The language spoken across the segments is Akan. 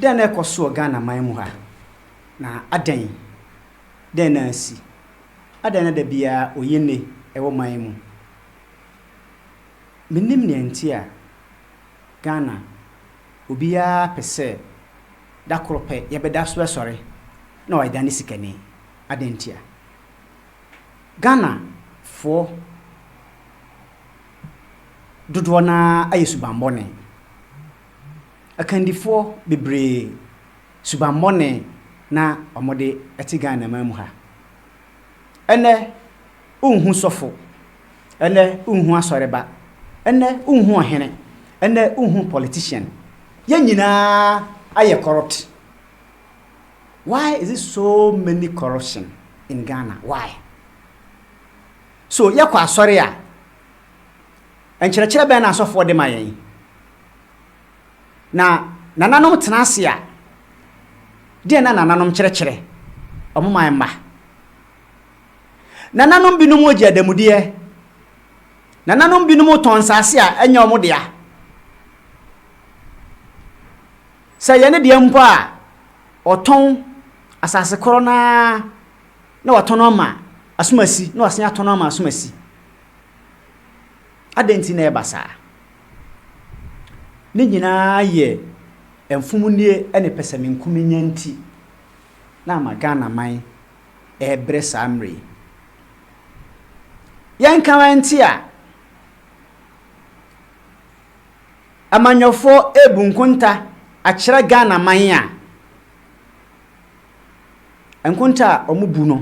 Dɛn na ɛkɔ so wɔ Ghana man mu ha, na adɛn? Dɛn na asi? Adɛn na da biara oye nne wɔ man yi mu? Minnim nea enti a Ghana obiara pɛ sɛ da koro pɛ yɛbɛda so asɔre na wayɛ Ghana sikani. Adɛn ntia? Ghanafoɔ. dodoɔ no ara ayɛ subammɔne. Akandifoɔ bebree, subammɔne na wɔde te Ghanaman mu ha. Ɛnnɛ wonhu sɔfo, ɛnnɛ wonhu asɔreba, ɛnnɛ wonhu ɔhene, ɛnnɛ wonhu politician. Yɛn nyinaa ayɛ corrupt. Why is it so many corruption in Ghana? Why? So yɛkɔ asɔre a, nkyerɛkyerɛ bɛn na asɔfoɔ de ma yɛn? Na nananom tena ase a, deɛn na nananom kyerɛkyerɛ wɔn man mma? Nananom binom gye adamudeɛ. Nananom binom tɔn nsase a ɛnyɛ wɔn dea. Sɛ yɛn deɛ mpo a, wɔtɔn asase korɔ no ara na watɔ no ama asomasi na wasan atɔ no ama asomasi. Adɛn nti na ɛba saa? Ne nyinaa yɛ mfomnie ne pɛsɛmenkominya nti na ama Ghana man rebrɛ saa mmerɛ yi. Yɛnka wɛnte a, amanyɔfoɔ rebu nkonta akyerɛ Ghana man a, Nkonta a wɔbu no,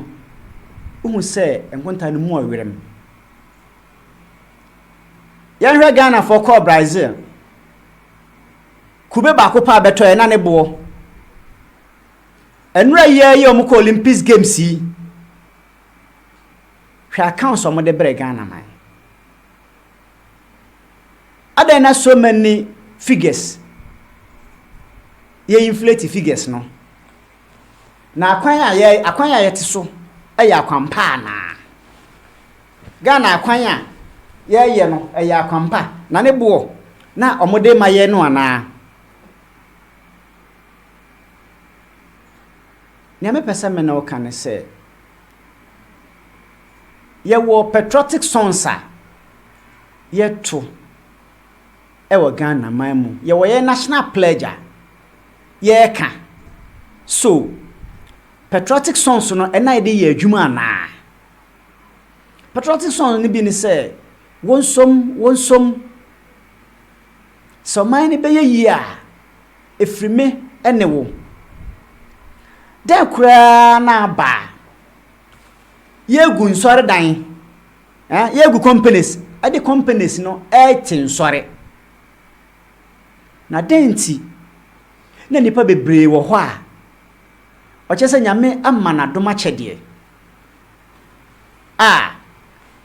wohu sɛ nkonta no mu ɔwerɛm. Yɛnhwɛ Ghanafoɔ kɔɔ Brazil. Kube baako paa bɛtɔɛ na ne boɔ. Nnura yi ara yi a wɔkɔ Olympics Games yi, hwɛ accounts a wɔde brɛ Ghana man. Adɛn na so many figures yɛ inflate figures no? Na akwan a yɛ akwan a yɛte so yɛ akwampa anaa? Ghana akwan a yɛyɛ no ɛyɛ akwampa na ne boɔ na wɔde ma yɛn no anaa? Nea mepɛ sɛ me ne wo ka ne sɛ Yɛwɔ patriotic songs a yɛto wɔ Ghana man mu. Yɛwɔ yɛn national pledge a yɛka. So patriotic songs no ɛna yɛde yɛ adwuma anaa? Patriotic songs no bi ne sɛ, Wonsom, wonsom. Sɛ ɔman no bɛyɛ yie a, ɛfiri me ne wo. Dɛn koraa na aba a, yɛregu nsɔredan, eh, yɛregu companies, ɛde companies no ɛrete nsɔre. Na dɛn nti na nnipa bebree wɔ hɔ a, ɔkyerɛ sɛ Nyame ama no adom akyɛdeɛ. a,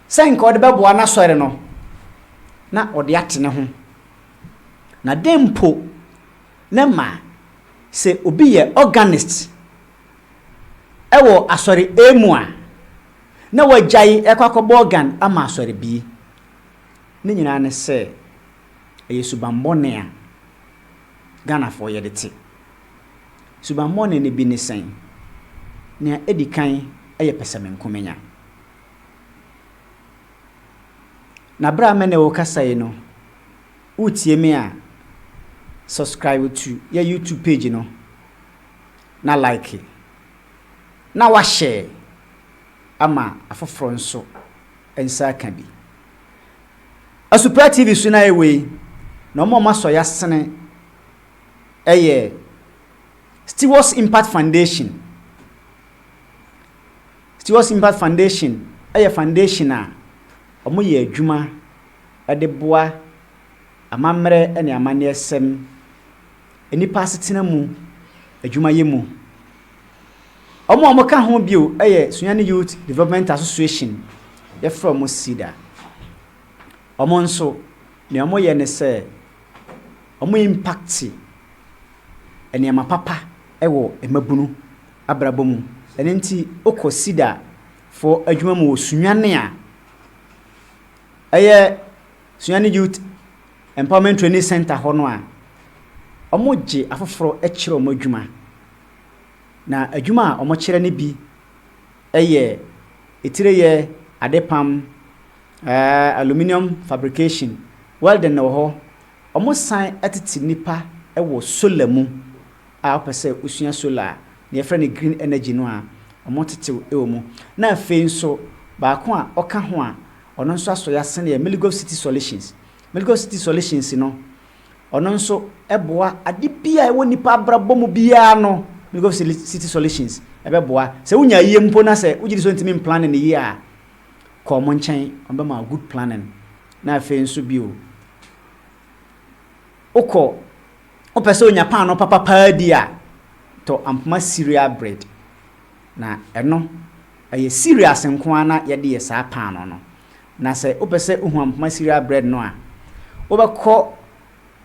sɛ nka ɔde bɛboa n'asɔre no, na ɔde ate ne ho. Na dɛn mpo na ɛma sɛ obi yɛ organist wɔ asɔre A mu a, na wagyae rekɔ akɔbɔ organ ama asɔre B? Ne nyinaa ne sɛ, ɛyɛ subammɔne a Ghanafoɔ yɛde te. Subammɔne no bi ne sɛn? Nea edi kan yɛ pɛsɛmenkomenya. Na bere a me ne wo rekasa yi no, woretie me a, subscribe to yɛn YouTube page no na like na woahyɛ ama afoforo nso nsa aka bi. Asupra TV so na yɛwɔ yi, na wɔn a wɔasɔ yɛasene yɛ Stewards Impact Foundation. Stewards Impact Foundation yɛ foundation a wɔyɛ adwuma de boa amammerɛ ne amanneɛsɛm, nnipa asetena mu adwumayɛ mu. Wɔn a wɔka ho bio yɛ Sunyani Youth Development Association, wɔfrɛ wɔn SYDA. Wɔn nso, nea wɔyɛ ne sɛ wɔn impacte nneɛma papa wɔ mmabunu abrabɔ mu. Ɛno nti wokɔ Sida foɔ adwuma mu wɔ Sunyani a, ɛyɛ Sunyani Youth Empowerment Training Centre hɔ no a, wɔgye afoforɔ kyerɛ wɔn adwuma. Na adwuma a wɔkyerɛ no bi yɛ etireyɛ, adepam, Ɛɛ aluminium fabrication, welding wɔ hɔ. Wɔsan tete nnipa wɔ solar mu a wopɛ sɛ wosua solar a, nea yɛfrɛ no green energy no a, wɔtete wo wɔ mu. Na afei nso, baako a ɔka ho a ɔno nso asɔ yɛ asen yɛ Miligov City Solutions. Miligov City Solutions no, ɔno nso boa ade bi a ɛwɔ nnipa abrabɔ mu biara no, Miligov City Solutions ɛbɛboa. Sɛ wonya ayie mpo na sɛ wogye di sɛ wontumi mplane no yie a, kɔ wɔn nkyɛn, wɔbɛma wo good planning. Na afei nso bio, wokɔ, wopɛ sɛ onya paanoo papa paa di a, tɔ Ampoma cereal bread. Na ɛno, ɛyɛ cereals nko ara na yɛde yɛ saa paanoo no. Na sɛ wopɛ sɛ wohu Ampoma cereal bread no a, wobɛkɔ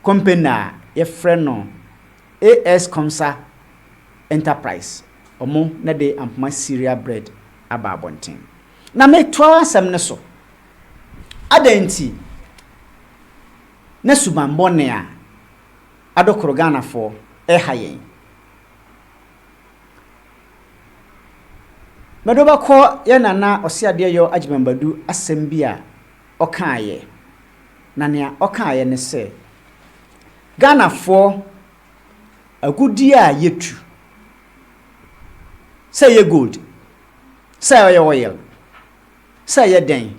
company a yɛfrɛ no AS Comsa Enterprise, wɔn na ɛde Ampoma cereal bread aba abɔnten. Na metoaa asɛm no so, Adɛn nti na subammɔne a adokoro Ghanafoɔ reha yɛn? Mede wo bɛkɔ yɛn Nana Ɔseadeɛyɔ Agyemang Badu asɛm bi a ɔkaeɛ, na nea ɔkaeɛ ne sɛ, Ghanafoɔ agudeɛ a yɛtu, sɛ ɛyɛ gold, sɛ ɔyɛ oil, sɛ ɛyɛ dɛn,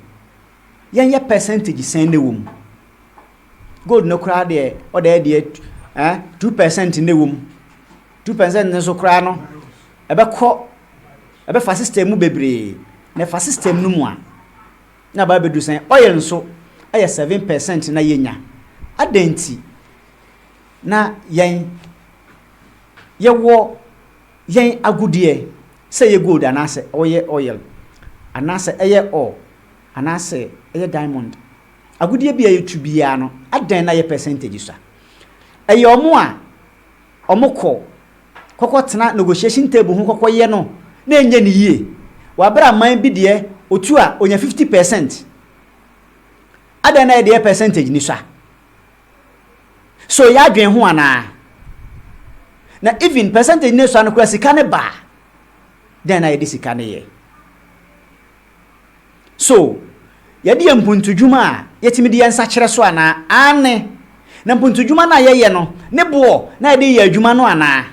yɛnyɛ percentage sɛn na ɛwɔ mu. Gold no koraa deɛ ɔda yɛ deɛ eh, two percent na ɛwɔ mu. Two percent no nso koraa no ɛbɛkɔ ɛbɛfa system mu bebree na ɛfa system no mu a na aba abɛdu sɛn. Oil nso ɛyɛ seven percent na yɛnya. Adɛn nti na yɛn yɛwɔ yɛn agudeɛ, sɛ ɛyɛ gold anaasɛ ɔyɛ oil, anaasɛ ɛyɛ ore, anaasɛ ɛyɛ diamond, agudeɛ bi a yɛtu biara no, adɛn na yɛ percentage sa? Ɛyɛ wɔn a wɔkɔ kɔkɔtena negotiation table ho kɔkɔyɛ no na ɛnyɛ no yie. Wɔ berɛ a man bi deɛ ɔtu a ɔnya 50 percent, adɛn na yɛ deɛ yɛ percentage ni sa? So yɛ adwen ho anaa? Na even percentage no sua no koraa sika no ba a, dɛn na yɛde sika no yɛ? So yɛde yɛ mpuntudwuma a yɛtumi de yɛ nsa kyerɛ so anaa? Aane, na mpuntudwuma no a yɛyɛ no ne boɔ na yɛde yɛ adwuma no anaa?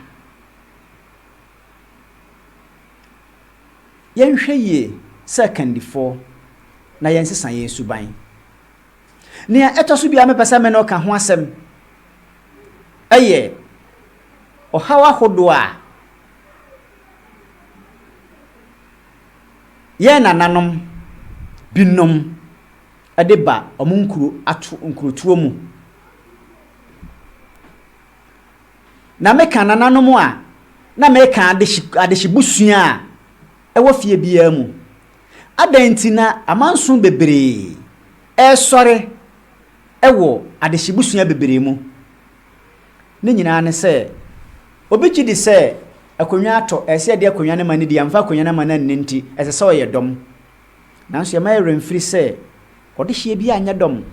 Yɛnhwɛ yie sɛ akandifoɔ na yɛnsesa yɛn suban. Nea ɛtɔ so bio a mepɛ sɛ me ne wo ka ho asɛm yɛ ɔhaw ahodoɔ a yɛn nananom binom de ba wɔn nkuro ato nkurotoɔ mu. Na meka nananom a, na meka adehye adehyebusua a ɛwɔ fie biara mu. Adɛn nti na amanson bebree resɔre wɔ adehyebusua bebree mu? Ne nyinaa ne sɛ, obi gye di sɛ akonnwa atɔ, ɛsɛ sɛ yɛde akonnwa no ma no di, yɛamfa akonnwa no amma no anni nti, ɛsɛ sɛ ɔyɛ dɔm. Nanso yɛmma yɛn werɛ mfiri sɛ, ɔdehyeɛ biara nyɛ dɔm.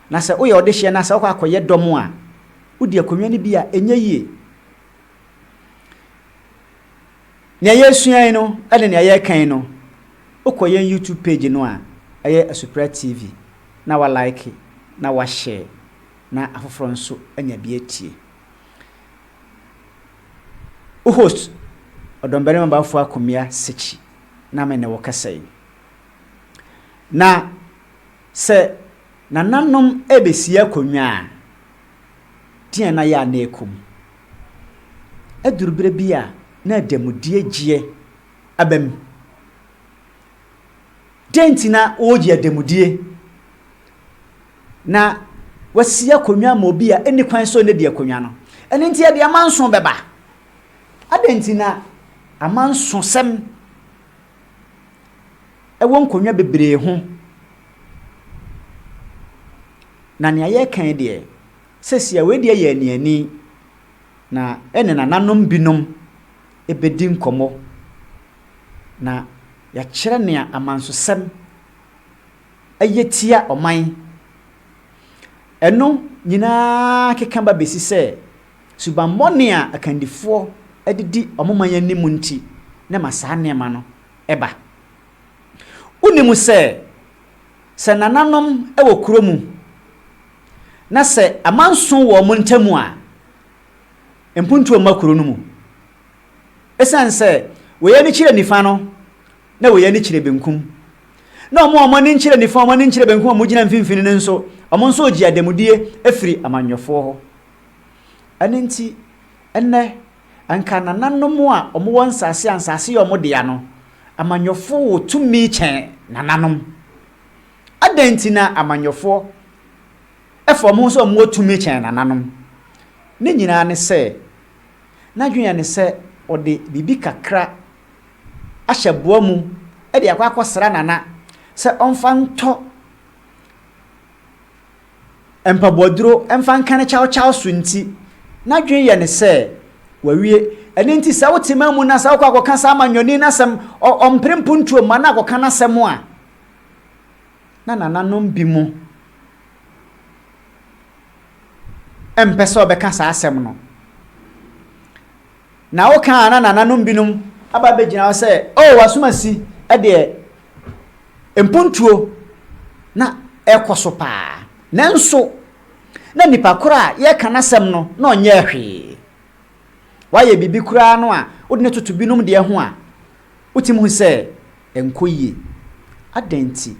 Na sɛ woyɛ ɔdehyeɛ na sɛ wokɔ akɔyɛ dɔm a, wodi akonnwa no bi a, ɛnyɛ yie. Nea yɛresua yi no ne nea yɛreka yi no, wokɔ yɛn YouTube page no a ɛyɛ Asupra TV na wa like na wa share na afoforɔ nso anya bi atie. Wo host Ɔdɔmbarima Bafo Akomia Sekyi na me ne wo kasa yi. Na sɛ nananom ɛbɛsi akonnwa a, deɛn na yɛ a na ɛkɔ mu? Aduru berɛ bi a na adanmudeɛ gyeɛ aba mu. Dɛn nti na wɔregye adanmudie? Na wɔasi akonnwa ama obi a ɛnni kwan sɛ ɔnnadi akonnwa no. Ɛno nti yɛde amanso bɛba. Adɛn nti na amansosɛm wɔ nkonnwa bebree ho. Na nea yɛreka yi deɛ, seesei wei deɛ yɛ aniani, na ɛne nananom binom bɛdi nkɔmmɔ, na yɛakyerɛ nea amansosɛm yɛ tia ɔman. Ɛno nyinaa keka ba bɛsi sɛ. Subammɔne a akandifoɔ de di wɔn man anim nti na ɛma saa nneɛma no ba. Wonim sɛ, sɛ nananom wɔ kuro mu na sɛ amanso wɔ wɔn ntam a, mpuntuo mma kuro no mu. Ɛsiane sɛ wei ani kyerɛ nifa no, na wei ani kyerɛ benkum, na wɔn a wɔn ani nkyerɛ nifa, wɔn ani nkyerɛ benkum a wɔgyina mfimfini no nso, wɔn nso regye adanmudeɛ afiri amanyɔfoɔ hɔ. Ɛno nti, ɛnnɛ, anka nananom a wɔwɔ nsase a nsase yɛ wɔn dea no, amanyɔfo wɔ tumi kyɛn nananom. Adɛn nti na amanyɔfo fa wɔn ho sɛ wɔwɔ tumi kyɛn nananom? Ne nyinaa ne sɛ, n'adwene ne sɛ ɔde biribi kakra ahyɛ boa mu de akɔ akɔsra nana sɛ ɔmfa ntɔ mpaboaduro mfa nkane kyawkyaw so nti, n'adwene yɛ no sɛ wawie. Ɛno nti sɛ wote ma mu na sɛ wokɔ akɔka saa amanyɔni no asɛm, ɔmpere mpontuo mma na akɔka n'asɛm a, na nananom bi mu mpɛ sɛ ɔbɛka saa asɛm no. Na woka a na nananom binom aba abɛgyina hɔ sɛ, Oh, w'asomasi deɛ mpontuo na ɛrekɔ so paa. Nanso na nipa korɔ a yɛreka n'asɛm no na ɔnyɛɛ hwee. Wayɛ biribi koraa no a wode no toto binom deɛ ho a, wotumi hu sɛ ɛnkɔ yie. Adɛn nti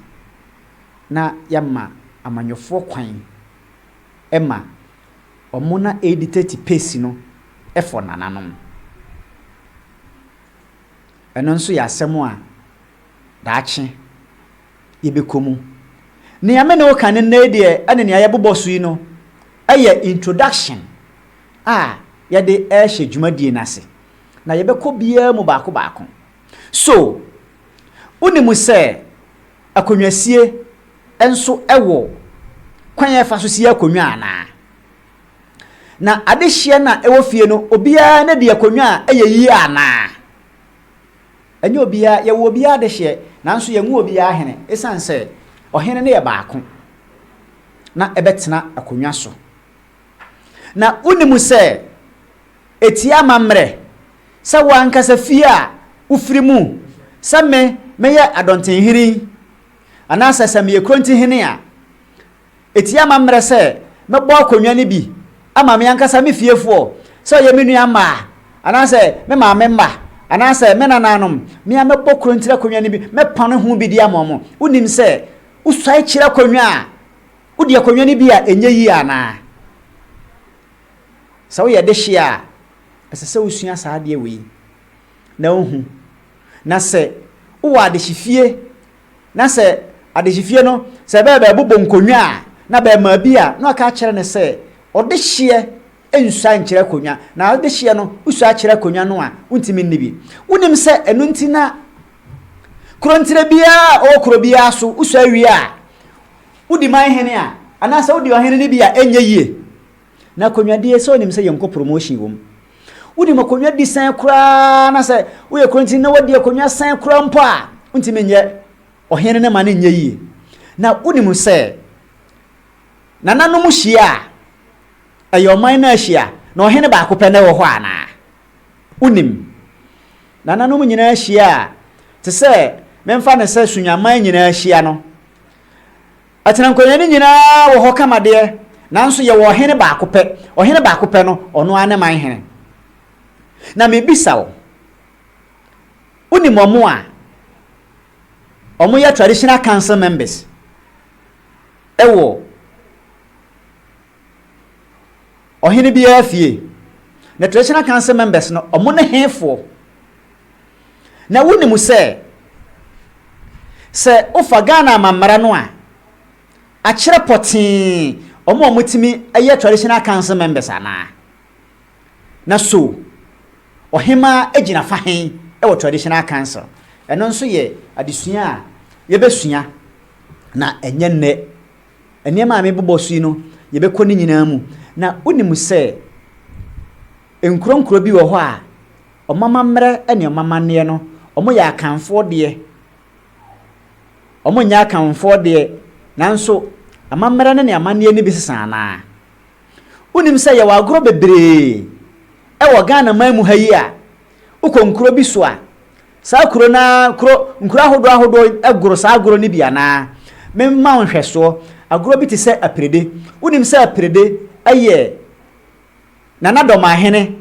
na yɛmma amanyɔfoɔ kwan ma? Ɔmo na edi tɛti pesi no fɔ nananom. Ɛno nso yɛ asɛm a daakye yɛbɛkɔ mu. Nea me ne wo ka no nnɛ yi deɛ ɛne nea yɛbobɔ so yi no yɛ introduction a yɛde rehyɛ dwumadie no ase. Na yɛbɛkɔ biara mu baako baako. So wonim sɛ. Akonnwasie nso wɔ kwan a yɛfa so si akonnwa anaa? Na adehyeɛ no a ɛwɔ fie no, obiara na di akonnwa a ɛyɛ yie anaa? Ɛnyɛ obiara, yɛwɔ obiara adehyeɛ, nanso yɛnwo obiara ahene, ɛsiane sɛ ɔhene no yɛ baako na ɛbɛtena akonnwa so. Na wonim sɛ Etie amammerɛ, sɛ wo ankasa fie a wofiri mu, sɛ me, meyɛ Adɔntenhene yi, anaasɛ sɛ meyɛ Kurontihene a. Etie amammerɛ sɛ mɛbɔ akonnwa no bi ama me ankasa me fiefoɔ, sɛ ɔyɛ me nua mmaa, anaasɛ me maame mma, anaasɛ me nanaanom, me ara mɛbɔ kurontire akonnwa no bi, mɛpane ho bi de ama wɔn. Wonim sɛ wosuae kyiri akonnwa a, wode akonnwa no bi a ɛnyɛ yie anaa? Sɛ woyɛ dehye a, ɛsɛ sɛ wusua saa adeɛ wei na wohu. Na sɛ wowɔ adehyefie na sɛ adehyefie no, sɛ ɛbɛyɛ bɛɛbobɔ nkonnwa a, na bɛɛmaa bi a, na waka akyerɛ no sɛ ɔdehyeɛ nsua nkyerɛ akonnwa. Na adehyeɛ no, wosua akyerɛ akonnwa no a, wontumi nni bi. Wonim sɛ ɛno nti na kurontire biara a ɔwɔ kuro biara so, wosua wie a, wodi man hene a, anaasɛ wodi ɔhene no bi a, ɛnyɛ yie. Na akonnwa die sɛ onim sɛ yɛnkɔ promotion wom wonim akonnwa di sɛn koraa na sɛ woyɛ kuro nti na wadi akonnwa sɛn koraa mpo a wontumi nyɛ ɔhene ne ma ne nyɛ yie na wonim sɛ nananom hyia a ɛyɛ ɔman no ahyia na ɔhene baako pɛ na ɛwɔ hɔ anaa wonim nananom nyinaa hyia a te sɛ memfa ne sɛ sunyaman nyinaa hyia no Atenankonnwa no nyinaa wɔ hɔ kama deɛ, nanso yɛwɔ ɔhene baako pɛ. Ɔhene baako pɛ no, ɔno ara ne man hene. Na mebisa wo, wonim wɔn a wɔyɛ traditional council members wɔ Ɔhene biara fie. Na traditional council members no ɔmo ne hefoɔ? Na wonim sɛ sɛ wofa Ghana amammara no a akyerɛ pɔtee ɔmo a ɔmo tumi yɛ traditional council members anaa? Na so ɔhemaa agyina fa hen wɔ traditional council? Ɛno nso yɛ adesua a yɛbɛsua na ɛnyɛ nnɛ Nneɛma a mebobɔ so yi no, yɛbɛkɔ ne nyinaa mu. Na wonim sɛ nkuronkuro bi wɔ hɔ a, wɔn amammerɛ ne wɔn amanneɛ no, wɔyɛ Akanfoɔ deɛ. Wɔnyɛ Akanfoɔ deɛ, nanso amammerɛ no ne amanneɛ no bi sesa anaa? Wonim sɛ yɛwɔ agorɔ bebree wɔ Ghana man mu ha yi a, wokɔ nkuro bi so a, Saa kuro no ara kuro nkuro ahodoɔ ahodoɔ goro saa agorɔ no bi anaa? Memma wo nhwɛsoɔ, agorɔ bi te sɛ Apirede. Wonim sɛ Apirede yɛ Nana Dɔmahene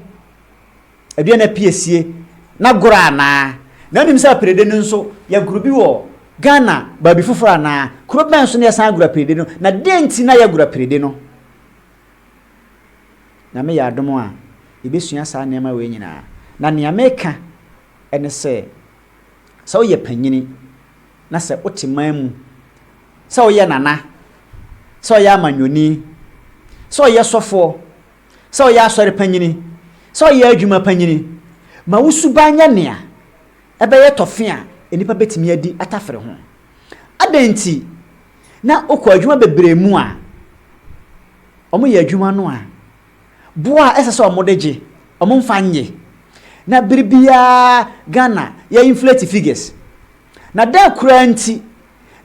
Aduana Piesie n'agorɔ anaa? Na wonim sɛ Apirede no nso, yɛagoro bi wɔ Ghana baabi foforɔ anaa? Kuro bɛn so na yɛsan agoro Apirede no, na deɛn nti na yɛagoro Apirede no? Nyame yɛ adom a, yɛbɛsua saa nneɛma wei nyinaa. Na nea meka ne sɛ, sɛ woyɛ panyini na sɛ wote man mu, sɛ woyɛ nana, sɛ woyɛ amanyɔni, sɛ woyɛ sɔfoɔ, sɛ woyɛ asɔre panyini, sɛ woyɛ adwuma panyini, ma wo suban nyɛ nea ɛbɛyɛ tɔfe a nnipa bɛtumi adi atafere ho. Adɛn nti? na wokɔ adwuma bebree mu a, wɔyɛ adwuma no a, bo a ɛsɛ sɛ wɔde gye, wɔmfa nnye. Na bere biara Ghana yɛ inflate figures. Na dɛn koraa nti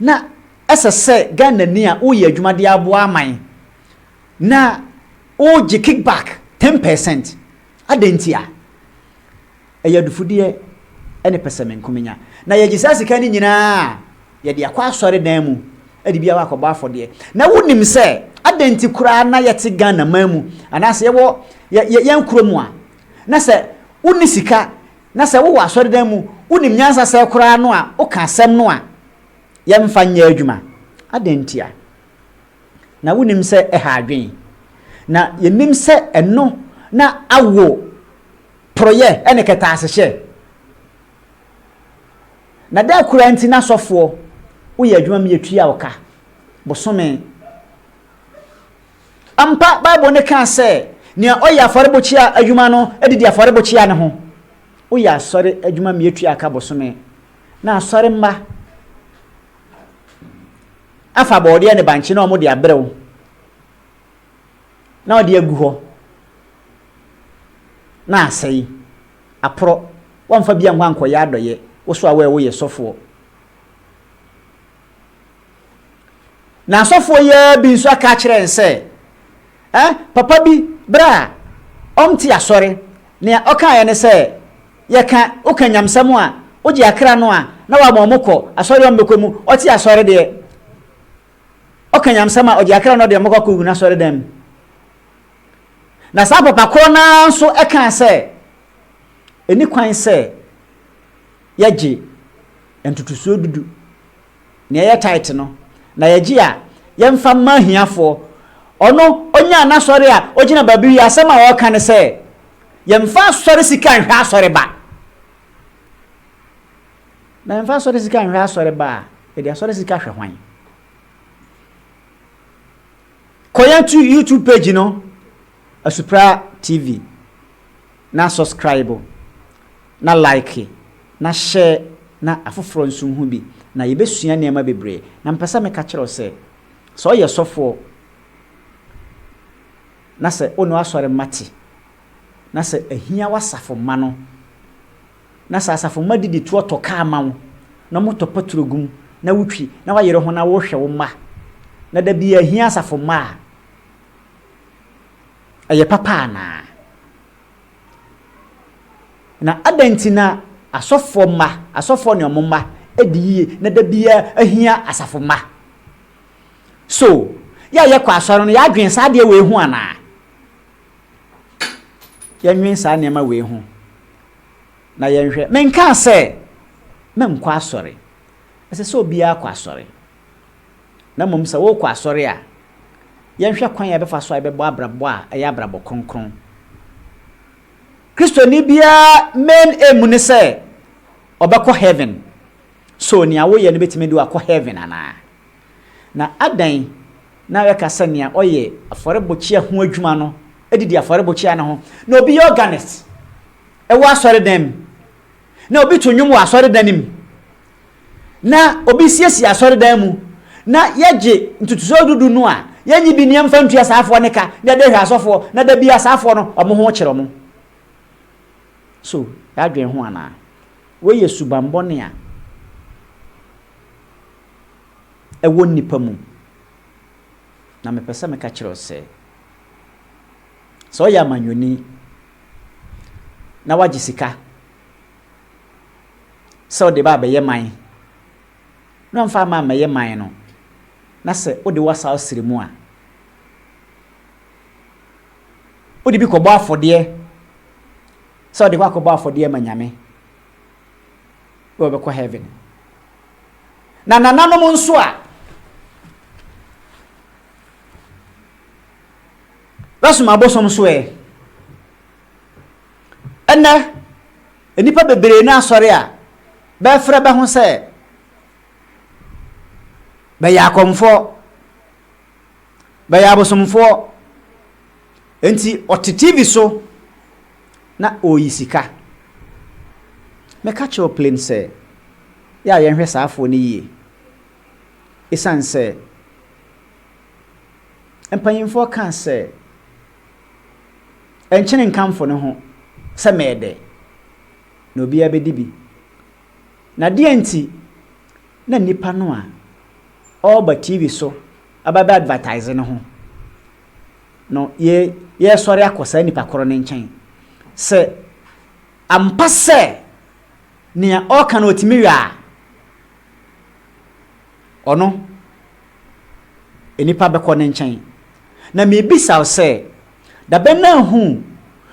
na ɛsɛ sɛ Ghanani a woyɛ adwuma de aboa aman na wogye kickback ten percent? Adɛn ntia? Ɛyɛ adufudeɛ ne pɛsɛmenkomenya. Na yɛgye saa sika no nyina ara a, yɛde akɔ asɔredan mu de bi akɔbɔ afɔdeɛ. Na wonim sɛ adɛn nti koraa na yɛte Ghana man mu anaasɛ yɛwɔ yɛ yɛn kuro mu a, na sɛ wonni sika na sɛ wowɔ asɔredan mu, wonim nyansa sɛɛ koraa no a, woka asɛm no a, yɛmfa nyɛ adwuma. Adɛn ntia? Na wonim sɛ ɛha adwene. Na yɛnim sɛ ɛno na awo Porɔeɛ ne kɛtɛasehyɛ. Na dɛn koraa nti na asɔfoɔ woyɛ adwuma ma yɛtua wo ka bosome? Ampa, Bible no kaa sɛ, Nea ɔyɛ afɔrebukyia adwuma no didi afɔrebukyia no ho. Woyɛ asɔre adwuma ma yɛtua ka bosome, na asɔre mma afa borɔdeɛ ne bankye na wɔde abrɛ wo. na ɔde agu hɔ na asɛe, aporɔ, woamfa bi annkɔ annkɔyɛ adɔyɛ, wo so a woɛ woyɛ sɔfoɔ. Na asɔfoɔ yi ara bi nso aka akyerɛ yɛn sɛ, eh, papa bi berɛ a ɔnte asɔre, nea ɔkaeɛ ne sɛ, yɛka, woka nyamsɛm a, wogye akra no a, na wama wɔn kɔ asɔre a wɔmmɛkɔ mu, ɔte asɔre deɛ, ɔka nyamsɛm a, ɔgye akra na ɔde wɔn kɔ akɔwu n'asɔredan mu. Na saa papa korɔ no ara nso kaa sɛ, ɛni kwan sɛ yɛgye ntotosoɔ dudu, nea ɛyɛ tithe no, na yɛgye a, yɛmfa mma ahiafoɔ. Ɔno, ɔnyaa n'asɔre a, ɔgyina baabi wie a, asɛm a ɔka ne sɛ, Yɛmfa asɔre sika nhwɛ asɔreba. Mɛmfa asɔre sika nhwɛ asɔre ba a, mede asɔre sika hwɛ hwan? Kɔ yɛn tu YouTube page no, Asupra TV, na subscribe, na like, na share, na afoforɔ nso nhu bi, na yɛbɛsua nneɛma bebree. Na mepɛ sɛ meka kyerɛ wo sɛ, sɛ ɔyɛ sɔfoɔ, na sɛ wo ne w'asɔre mma te, na sɛ ahia w'asafo mma no, Na sɛ asafo mma didi toɔ tɔ kaa ma wo, na wɔtɔ paturo gu mu, na wotwi, na wayere ho na worehwɛ wo mma, na da biaa hia asafo mma a, ɛyɛ papa anaa? Na adɛn nti na asɔfoɔ mma, asɔfoɔ ne wɔn mma di yie na da biaa hia asafo mma? So yɛ a yɛkɔ asɔre no, yɛn adwene saa adeɛ wei ho anaa? yɛnnwen saa nneɛma wei ho na yɛnhwɛ. Menkaa sɛ menkɔ asɔre. Ɛsɛ sɛ obiara kɔ asɔre. Na mmom sɛ worekɔ asɔre a, yɛnhwɛ kwan a yɛbɛfa so a yɛbɛbɔ abrabɔ a ɛyɛ abrabɔ kronkron. Kristoni biara main aim ne sɛ ɔbɛkɔ heaven. So nea woyɛ no betumi de wo akɔ heaven anaa? Na adɛn na yɛka sɛ nea ɔyɛ afɔrebukyia ho adwuma no didi afɔrebukyia no ho? Na obi yɛ organist wɔ asɔredan mu, na obi to nnwom wɔ asɔredan no mu, na obi siesie asɔredan mu, na yɛgye ntotosoɔ dudu no a, yɛnyi bi nneɛma mfa ntua saafoɔ no ka, na yɛde hwɛ asɔfoɔ, na da bi a saafoɔ no wɔn ho kyerɛ wɔn. So yɛadwene ho anaa? Wei yɛ subammɔne a ɛwɔ nnipa mu. Na mepɛ sɛ meka kyerɛ wo sɛ, sɛ woyɛ amanyɔni na woagye sika sɛ wode ba abɛyɛ man na woamfa amma ammɛyɛ man no, na sɛ wode w'asaw sere mu a, wode bi kɔbɔ afɔdeɛ sɛ wode kɔ akɔbɔ afɔdeɛ ma Nyame, na wɔbɛkɔ heaven. Na nananom nso a wɔsom abosom so ɛ. Ɛnɛ, nnipa bebree no asɔre a bɛfrɛ bɛ ho sɛ bɛyɛ akɔmfoɔ, bɛyɛ abosomfoɔ. Enti ɔte TV so na ɔreyi sika. Mɛka kyerɛ wo plain sɛ, yɛ a yɛnhwɛ saa afoɔ no yie. Ɛsiane sɛ, mpanimfoɔ kaa sɛ, Ɛnkyene nkamfo no ho sɛ mɛɛdɛ, na obiara bɛdi bi. Na deɛn nti na nnipa no a ɔreba TV so aba abɛ advertise no ho? no, yɛ, yɛresɔre akɔ saa nipa koro no nkyɛn. Sɛ ampa sɛ nea ɔreka no ɔtumi wɛ a, ɔno, nipa bɛkɔ ne nkyɛn. Na mebisa wo sɛ, dabɛn na nhuu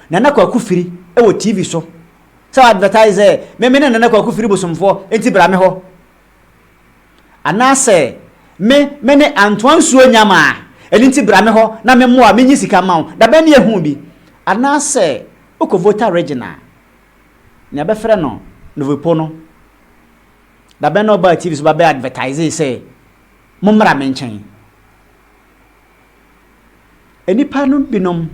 Nana Kwaku Firi wɔ TV so sɛ ɔadvɛtaese sɛ, Me, me ne Nana Kwaku Firi bosomfoɔ, enti bra me hɔ. Anaasɛ me me ne antoa nsuo nnya ma a, ɛno nti bra me hɔ na me mmoa menyi sika mma wo, dabɛn ne yɛhuu bi. Anaasɛ wokɔ Volta Region a, nea bɛfrɛ no Novipo no, dabɛn na ɔbaa TV so ba bɛ advertisee sɛ mommra me nkyɛn. Nnipa no binom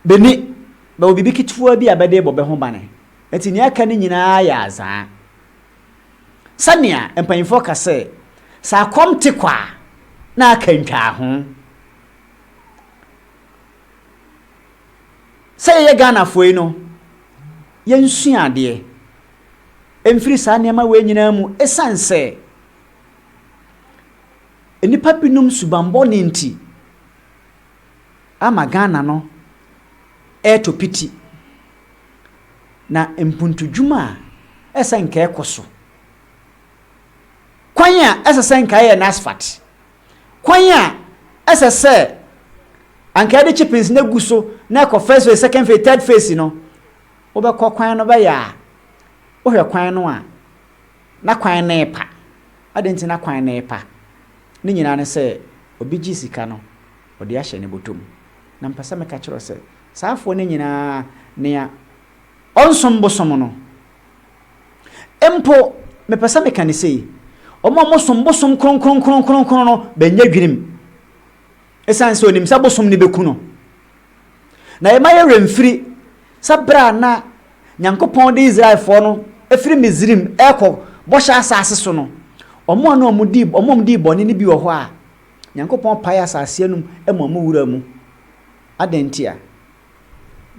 bɛni bɛwɔ biribi ketewa bi a bɛde bɔ bɛ ho bane. Enti nea aka no nyinaa yɛ azaa. Sɛnea mpanyimfoɔ ka sɛ, Sɛ akɔm te kwa a, na aka ntwaa ho. Sɛ yɛyɛ Ghanafoɔ yi no, yɛnsua adeɛ mfiri saa nneɛma wei nyinaa mu esiane sɛ nnipa binom subammɔne nti, ama Ghana no retɔ piti, na mpuntudwuma a ɛsɛ nka ɛkɔ so, kwan a ɛsɛ sɛ nka yɛyɛ no asphalt, kwan a ɛsɛ sɛ anka yɛde chippings no agu so na ɛkɔ first phase, second phase, third phase no, wobɛkɔ kwan no bɛyɛ a, wohwɛ kwan no a, na kwan no repa. Adɛn nti na kwan no repa? Ne nyinaa ne sɛ obi gye sika no ɔde ahyɛ ne bɔtɔ mu. Na mepɛ sɛ meka kyerɛ wo sɛ, saa afoɔ no nyinaa, nea ɔnsom bosom no mpo, mepɛ sɛ meka no sei, wɔn a wɔsom bosom kronkron kronkron no bɛnyɛ dwirim. Esiane sɛ onim sɛ bosom no beku no, na yɛmma yɛn werɛ mfiri sɛ bere a na Nyankopɔn de Israelfoɔ no firi Misraim rekɔ Bɔhyɛ Asase so no, wɔn a na wɔdii wɔn a wɔdii bɔne no bi wɔ hɔ a, Nyankopɔn paee asase anum ma wɔn wuraa mu. Adɛn ntia?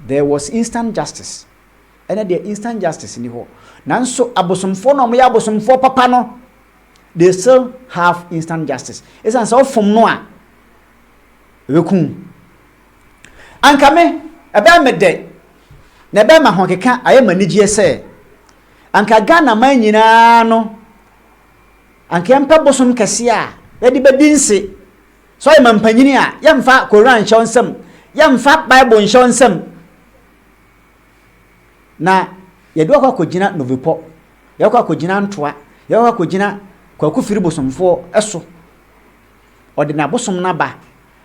There was instant justice. Ɛnɛ deɛ instant justice nni hɔ. Nanso abosomfoɔ no a wɔyɛ abosomfoɔ papa no, they still have instant justice ɛsiane sɛ ɔfom no a ɛbɛkum anka me ɛbɛyɛ me dɛ na ɛbɛyɛ ma ahokeka ayɛ m'anigyeɛ sɛ anka Ghana man nyinaa no anka yɛmpɛ bosom kɛseɛ a yɛde bɛdi nse sɛ ɔyɛ ma mpanyini a yɛmfa koran nhyɛ wo nsam yɛmfa bible nhyɛ wo nsam Na yɛde wo akɔ akɔgyina Novepɔ, yɛakɔ akɔgyina Ntoa, yɛakɔ akɔgyina Kwaku Firi bosomfoɔ so. Ɔde n'abosom no aba,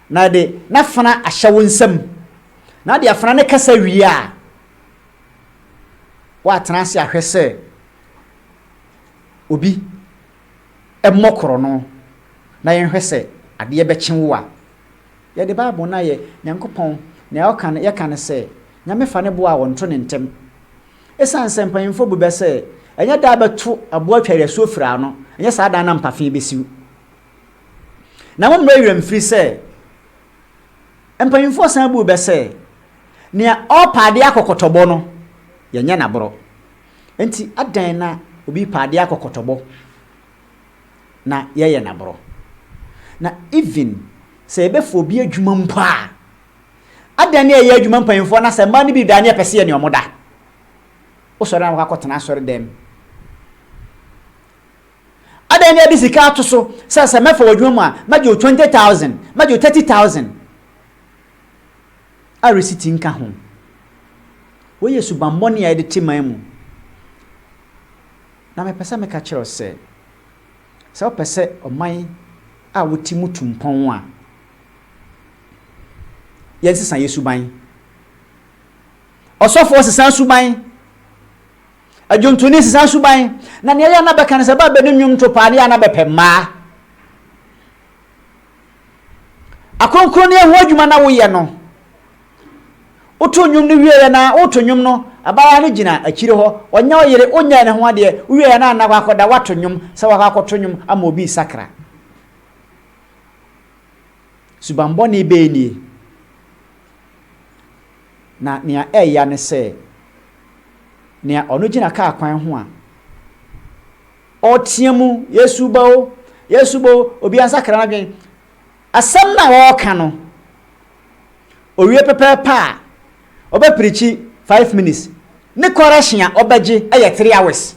na ɔde n'afena ahyɛ wo nsam. Na ɔde afena no kasa wie a, woatena ase ahwɛ sɛ obi mmɔ korɔno na yɛnhwɛ sɛ adeɛ bɛkye wo a, Yɛde Bible no ayɛ Nyankopɔn nea ɔka no, yɛka no sɛ, Nyame fa ne bo a ɔnto ne ntɛm. Esiane sɛ mpanyimfo bu bɛ sɛ ɛnyɛ da a bɛto aboa twa yɛn asuo firi ano, ɛnyɛ saa da no na mpafe besiw. Na mommrɛ yɛn werɛ mfiri sɛ, mpanyimfoɔ san buu bɛ sɛ, Nea ɔrepa adeɛ akɔ kɔtɔbɔ no, yɛnyɛ no aborɔ. Enti adɛn na obi repa adeɛ akɔ kɔtɔbɔ? na yɛyɛ no aborɔ. Na even sɛ yɛbɛfa obi adwuma mpo a, adɛn ne ɛyɛ adwuma mpanyimfoɔ na sɛ mmaa no bi da ne yɛpɛ sɛ yɛ ne wɔn da. Wosɔre a na wakɔtena asɔre dɛm. Adɛn ne yɛde sika ato so sɛ sɛ mɛfa w'adwuma mu a mɛgye wo twenty thousand, mɛgye wo thirty thousand a resiti nka ho. Wei yɛ subammɔne a yɛde te man mu. Na mepɛ sɛ meka kyerɛ wo sɛ, sɛ wopɛ sɛ ɔman a wote mu tu mpɔn a, yɛnsesa yɛn suban. Ɔsɔfoɔ sesa suban. Adwontoni sesa suban. Na nea yɛ na bɛka no sɛ ba bɛni nnwom to paa ne yɛ na bɛpɛ mmaa. Akronkronneɛ ho adwuma na woyɛ no. Wotow nnwom no wieeɛ no ara, woreto nnwom no, abaayewa no gyina akyire hɔ. Ɔnyɛ ɔyere, ɔnyɛɛ ne ho adeɛ. Wowieeɛ no ara na wakɔda, woato nnwom sɛ wakɔ akɔto nnwom ama obi resakra. Subammɔne bɛn nie? Na nea ɛya ne sɛ, nea ɔno gyina kaa kwan ho a ɔreteɛ mu, Yesu ba o, Yesu ba o, obiara nsakra n'adwene. Asɛm no a wɔreka no, owie pɛpɛɛpɛ a, ɔbɛpirikyi five minutes. Ne correction a ɔbɛgye yɛ three hours.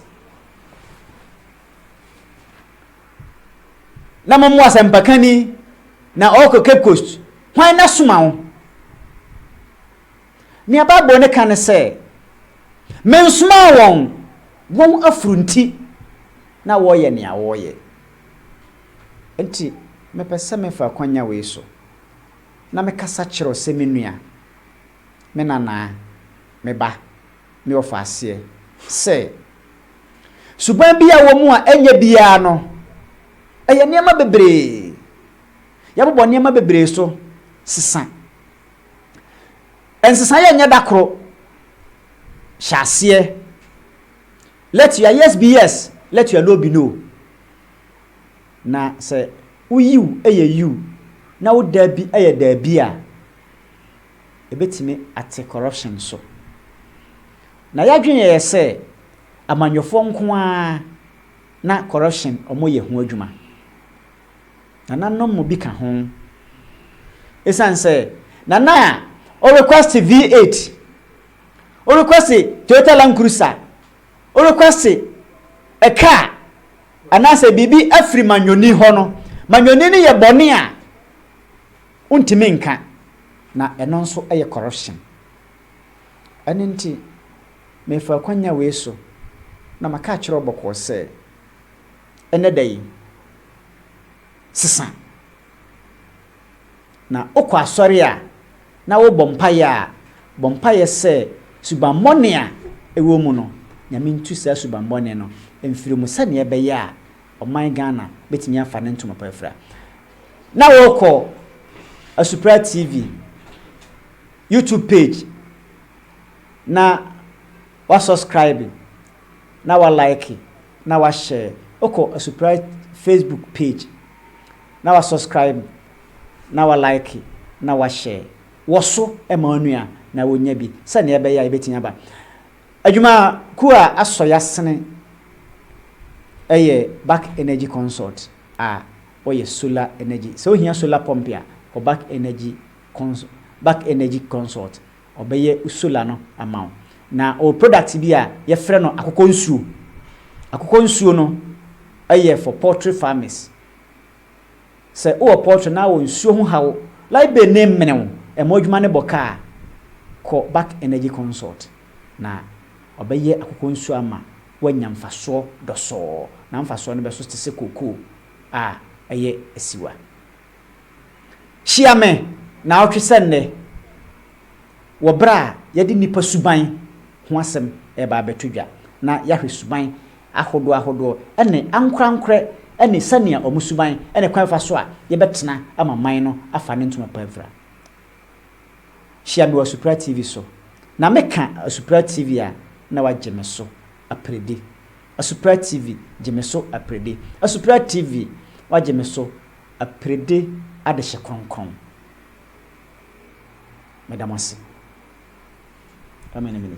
Na momo asɛmpakani na ɔrekɔ Cape Coast, hwan na soma wo? Nea Bible no ka ne sɛ, Mensomaa wɔn, wɔn afuru nti na wɔyɛ nea wɔyɛ. Enti mepɛ sɛ mefa akwanya wei so na mekasa kyerɛ wo sɛ me nua, me nanaa, me ba, me ɔfaaseɛ, sɛ, suban bi a ɛwɔ mu a ɛnyɛ biara no, ɛyɛ nneɛma bebree. Yɛbobɔ nneɛma bebree so sesa. Nsesaeɛ nyɛ da koro. Hyɛ aseɛ. Let your yes be yes, let your no be no. Na sɛ wo Yiw yɛ Yiw na wo Daabi yɛ Daabi a, ɛbɛtumi ate corruption so. Na yɛadwene yɛn sɛ amanyɔfoɔ nko ara na corruption wɔyɛ ho adwuma. Nananom mu bi ka ho. Ɛsiane sɛ Nana a wo request V8, wo request Toyota Land Cruiser, worekwase kaa anaasɛ biribi afiri manyɔni hɔ no, manyɔni no yɛ bɔne a wontumi nka, na ɛno nso yɛ corruption. Ɛno nti, mefa akwanya wei so na maka akyerɛ wo bɔkɔɔ sɛ, ɛnnɛ da yi, sesa. Na wokɔ asɔre a, na wobɔ mpaeɛ a, bɔ mpaeɛ sɛ, Subammɔne a ɛwɔ mu no, Nyame ntu saa subammɔne no mfiri mu sɛdeɛ ɛbɛyɛ a ɔman Ghana bɛtumi afa ne ntoma pa afira. Na wokɔ Asupra TV YouTube page na wasɔskraibe na walaeke na wahyɛɛ. Wokɔ Asupra Facebook page na wasɔskraibe. na wa like na wa share wɔso ma onua na onya bi sɛnea ɛbɛyɛ a yɛbɛtumi aba adwuma kuo a asɔ yasene ɛyɛ back energy consult a wɔyɛ solar energy sɛ ohia solar pump a kɔ back energy consult back energy consult ɔbɛyɛ solar no ama wo na ɔwɔ product bi a yɛfrɛ no akokɔ nsuo akokɔ nsuo no ɛyɛ for poultry farmers Sɛ wowɔ pɔltre na wɔ nsuo ho haw, Libane ne mene wo. Ɛmɔ adwuma no bɔ kaa kɔ Back Energy Consult na ɔbɛyɛ akokɔ nsuo ama woanya mfasoɔ dɔsɔɔ na mfasoɔ no bɛso te sɛ kokoo a ɛyɛ asiwa. Hyia me naawɔtwe sɛ nnɛ wɔ berɛ a yɛde nnipa suban ho asɛm reba abɛto dwa na yɛahwɛ suban ahodoɔahodoɔ ne ankorɛankorɛ ne sɛnea wɔn suban ne kwan fa so a yɛbɛtena ama man no afa ne ntoma pa afira. Hyia me wɔ Asupra TV so na meka Asupra TV a na wagye me so aperedi. Asupra TV gye me so aperedi. Asupra TV wagye me so aperedi adehye kronkron. Meda mo ase. Amen.